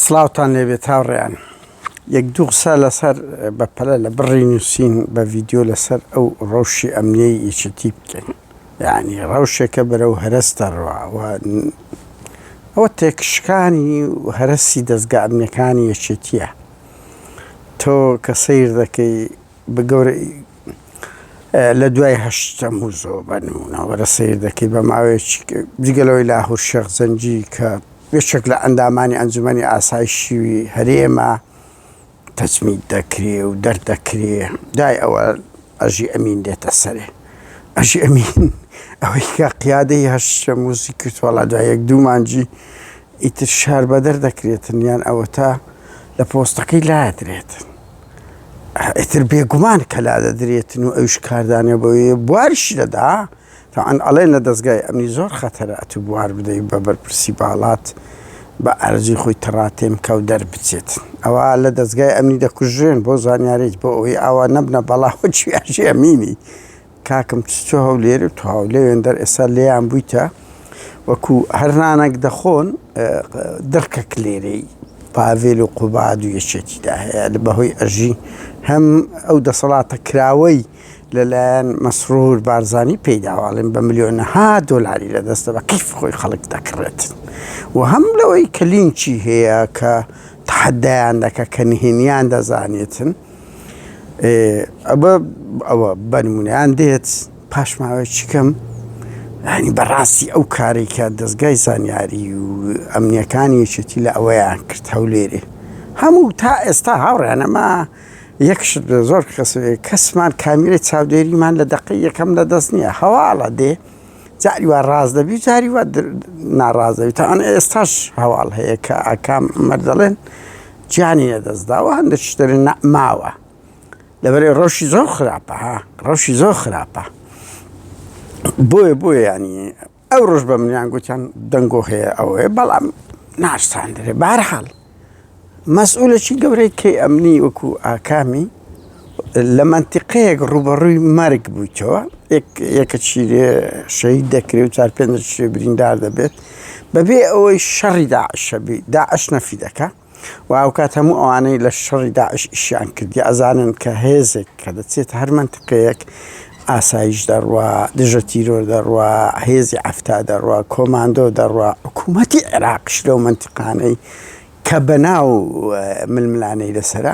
سڵاوتان لێبێت هاوڕێیان یەک دوو قسە لەسەر بەپەلە لە بڕی نووسین بە ڤیددیو لەسەر ئەو ڕەوشی ئەمنیەی یەکێتی بکەین یعنی ڕەوشێکە بەرەو هەرەس دەڕوا ئەوە تێکشکانی هەرەسی دەستگا ئەمنەکانی یەکێتیە تۆ کە سیر دەکەی بە گەورەی لە دوای هەشت تەمووزەوە بە نموونەوەرە سیر دەکەی بە ماوەیەکی جگەلەوەی لاهور شێخ زەنجی کە بێشێک لە ئەندامانی ئەنجومی ئاسای شیوی هەرێمە تەجمیت دەکرێ و دەردەکرێ دای ئەوە ئەژی ئەمین دێتە سەرێ ئەژی ئەمین ئەوەی کە قیادەی هەشت تەمووزی کردوەڵا دوایەک دوومانجی ئیتر شار بەدەر دەکرێتن یان ئەوە تا لە پۆستەکەی لادرێتن. ئیتر بێگومان کە لادەدرێتن و ئەویش کاردانێ بۆی بواریش دەدا تاعن ئەڵێن لە دەستگای ئەمنی زۆر خەتەرە ئەتو بوار بدەی بە بەرپرسی باڵات بە ئارەزوی خۆی تەڕاتێم کەو دەربچێت ئەوە لە دەستگای ئەمنی دەکوژرێن بۆ زانیاریت بۆ ئەوەی ئاوا نەبنە بەڵا هۆچیاژێ ئەمینی کاکم چچۆ هەولێری و تواو لەوێندەر ئێستا لێیان بوویتە وەکو هەر نانەک دەخۆن دڕکە کلێرەی پاڤێل و قوباد و یەکێتیدا هەیە لە بەهۆی ئەژی هەم ئەو دەسەڵاتە کراوەی لەلایەن مەسرور بارزانی پێیداواڵێن بە ملیۆنەها دۆلاری لە دەستە بە قیف خۆی خەڵک دەکڕێت و هەم لەوەی کە لینچی هەیە کە تحدایان دەکە کە نهێنیان دەزانێتن ئەوە ئەوە بەنمونەیان دێت پاش ماوەی چکەم ینی بەڕاستی ئەو کارێکە دەستگای زانیاری و ئەمنیەکانی یەکێتی لە ئەوەیان کرد هەولێرێ هەموو تا ئێستا هاوڕێنەما یەکش زۆر کەس کەسمان کامیرەی چاودێریمان لە دەقی یەکەم لە دەست نییە هەواڵە دێ جاری وا ڕاز دەبی جاری وا ناڕازەوی تاان ئێستاش هەواڵ هەیە کە ئاکام مەردەڵێن گیانی لەدەستداوە هەندێک شتەری نەماوە لەبەرێ ڕەوشی زۆر خراپە ها ڕەوشی زۆر خراپە بۆیە بۆیە ینی ئەو ڕۆژ بە منیان گوتیان دەنگۆ هەیە ئەوەیە بەڵام ناشتاندرێ بارحاڵ مەسئولەکی گەورەی کەی ئەمنی وەکو ئاکامی لە مەنتیقەیەک ڕووبەڕووی مەرگ بوویتەوە یەکە چیرێ شەید دەکرێت و چار پێ شوێ بریندار دەبێت بەبێ ئەوەی شەڕی داعشەبی داعش نەفی دەکە و ئەوکات هەموو ئەوانەی لە شەڕی داعش ئیشیان کردی ئەزانن کە هێزێک کە دەچێت هەر منتقەیەک ئاسایش دەڕوا دژە تیرۆر دەڕوا هێزی ئەفتا دەڕوا کۆماندۆ دەڕوا حکوومەتی عێراقش لەو منتیقانەی کە بەناو ململانەی لەسرە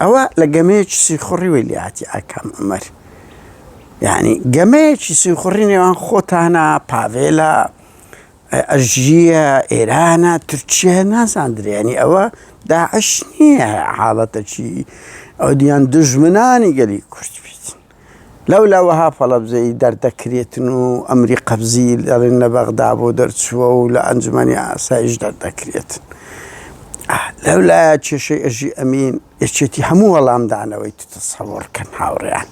ئەوە لە گەمەیەکی سیخوڕی وی لێهاتی ئاکام عومەر یعنی گەمەیەکی سیخوڕی نێوان خۆتانە پاڤێلە ئەژیە ئێرانە تورکیە نازاندرێنی ئەوە داعش نییە حاڵەتەکی ئەو دیان دژمنانی گەلی کورد بیت لەولا وەها فەڵەبزەی دەردەکرێتن و ئەمری قەبزی دەڵێن لە بەغدا بۆ دەرچووە و لە ئەنجومەنی ئاسایش دەردەکرێتن. لەولایە کێشەی ئەژی ئەمین ئەچێتی هەموو وەڵامدانەوەی تتەسەوەڕ کەن هاوڕێیان.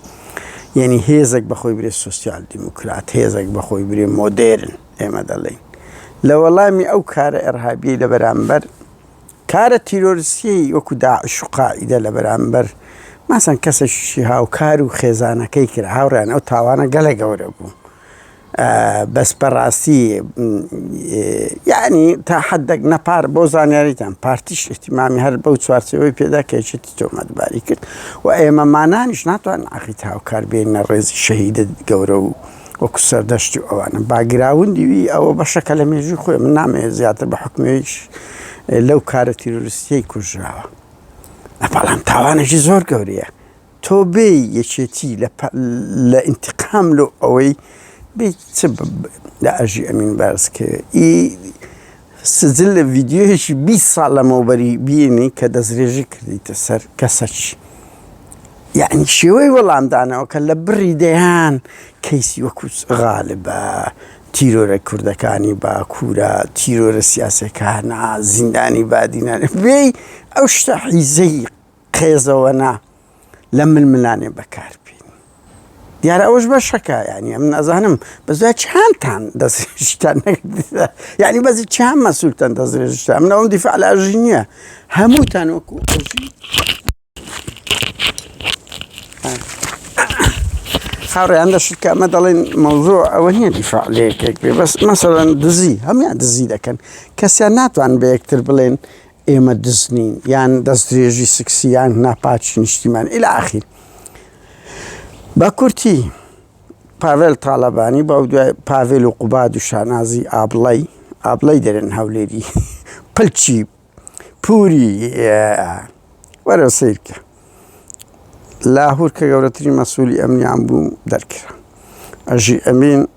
یعنی هێزێک بەخۆی برێ سوسیال دیموکرات، هێزێک بەخۆی برێ مۆدێرن ئێمە دەڵێین. لە وەڵامی ئەو کارە ئەرهابیەی لە بەرامبەر کارە تیرۆرستیی وەکو داعش و قاعیدە لە بەرامبەر مەسەن کەسێکیی هاوکار و خێزانەکەی کرا، هاوڕێیان ئەو تاوانە گەلە گەورە بوو بەس بەڕاستی یەعنی تا حەددەک نە پار بۆ زانیاریتان پارتیش ئیهتیمامی هەر بەو چوارچێوەی پێدا کە یەکێتی تۆمەتباری کرد و ئێمەمانانیش ناتوانن عەقید هاوکار بێینە ڕێزی شەهیدە گەورە و وەکو سەردەشتی و ئەوانە باگراوندی وی ئەوە بەشەکە لە مێژووی خۆی من نامەوێت زیاتر بە حکومەوەیش لەو کارە تیرۆرستیەی کوژراوە بەڵام تاوانێکی زۆر گەورەیە تۆ بێ یەکێتی لە ئینتقام لۆ ئەوەی بێ چ لە ئەژی ئەمین بارزکەوێ ئی سجل لە ڤیدیۆیەکی بیست ساڵ لەمەوبەری بینی کە دەسترێژی کردیتە سەر کەسەک یعنی شێوەی وەڵامدانەوە کە لە بڕی دەیان کەیسی وەکوچ غالبە تیرۆرە کوردەکانی باکوورە تیرۆرە سیاسەکانە زیندانی بادینان بێی ئەو شتە حیزەی قێزەوەنا لە ململانێ بەکار بین دیارە ئەوش بەشەکە ینی ئەم نازانم بەزا چیانتان دەستشتان یعنی بەزی چیان مەسوولتەن دەستێشتا من ئەوم دیفاع لە ئەژی نییە هەمووتان وەکو خاڕیان دەشت کە ئەمە دەڵێن مەوزۆ ئەوە نییە دیفاع لە یەکێک بێ بەس مەسەرەن دزی هەمیان دزی دەکەن کەسیان ناتوان بە یەکتر بڵێن ئێمە دز نین یان دەستدرێژی سکسی یان ناپاکی نیشتیمان الی اخیر بە کورتی پاڤێل تاالبانی بە دوای پاڤێل و قوباد و شانازی ئابڵی ئابڵی دەرێن هەولێری پلچی پوری وەرە سیرکە لاهور کە گەورەترین مەسوولی ئەمنیان بوو دەرکرا ئەژی ئەمین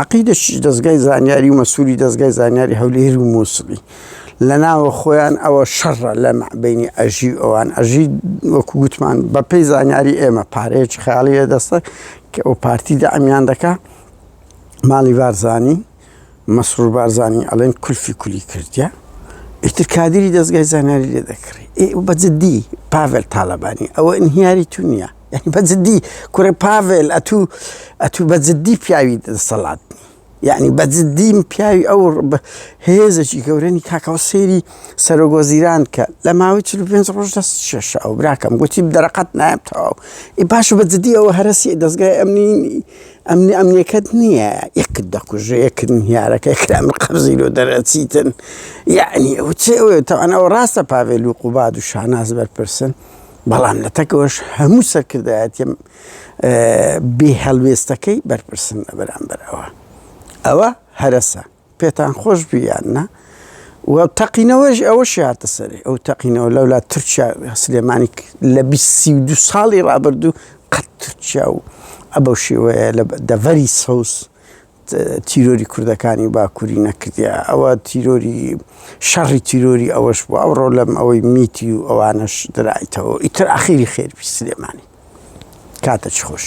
عەقیدەشیش دەزگای زانیاری و مەسوولی دەزگای زانیاری هەولێر و مووسڵی لە ناوە خۆیان ئەوە شەڕە لە مەعبینی ئەژی و ئەوان ئەژی وەکو گوتمان بە پێی زانیاری ئێمە پارەیەکی خیاڵی لە دەستە کە ئەو پارتی دەعمیان دەکا ماڵی بارزانی مەسرور بارزانی ئەڵێن کولفی کولی کردە ئیتر کادری دەستگای زانیاری لێ دەکڕی بە جددی پاڤل تاالبانی ئەوە ئینهیاری تو نییە یانی بە جدی کوڕە پاڤێل ئەتوو ئەتوو بە جدی پیاوی دەسەڵات یعنی بە جدیم پیاوی ئەو هێزەکی گەورەنی کاکەەوە سێری سەرۆگۆزیران کە لە ماوەی چ پێ ڕۆژ دەست شێشە ئەو براکەم گوتی دەرەقەت نایب تەواو ئی باش بە جدی ئەوە هەرسی دەستگای ئەمنی ئەمنی ئەمنیەکەت نییە یەکت دەکوژێ یەکردن هیارەکە کرام قەرزی لۆ دەرەچیتن یعنی ئەو چێ ئەوێت تەوانەوە ڕاستە پاوێل و قوباد و شاناز بەرپرسن بەڵام لەتەکەوەش هەموو سەرکردایەتیە بێ هەڵوێستەکەی بەرپرسن لە بەرامبەر ئەوە ئەوە هەرەسە پێتان خۆش بیان نا و تەقینەوەش ئەوە شاتە سەری ئەو تەقینەوە لەولا تورکیا سلێمانی لە دو ساڵی ڕابردوو قەت تورکیا و ئەبەو شێوەیە لە دەڤەری سەوز تیرۆری کوردەکانی باکوری نەکردیە ئەوە تیرۆری شەڕی تیرۆری ئەوەش بوو ئەوڕۆ لەم ئەوەی میتی و ئەوانەش درایتەوە ئیتر ئاخیری خێربی سلێمانی کاتە چ خۆش.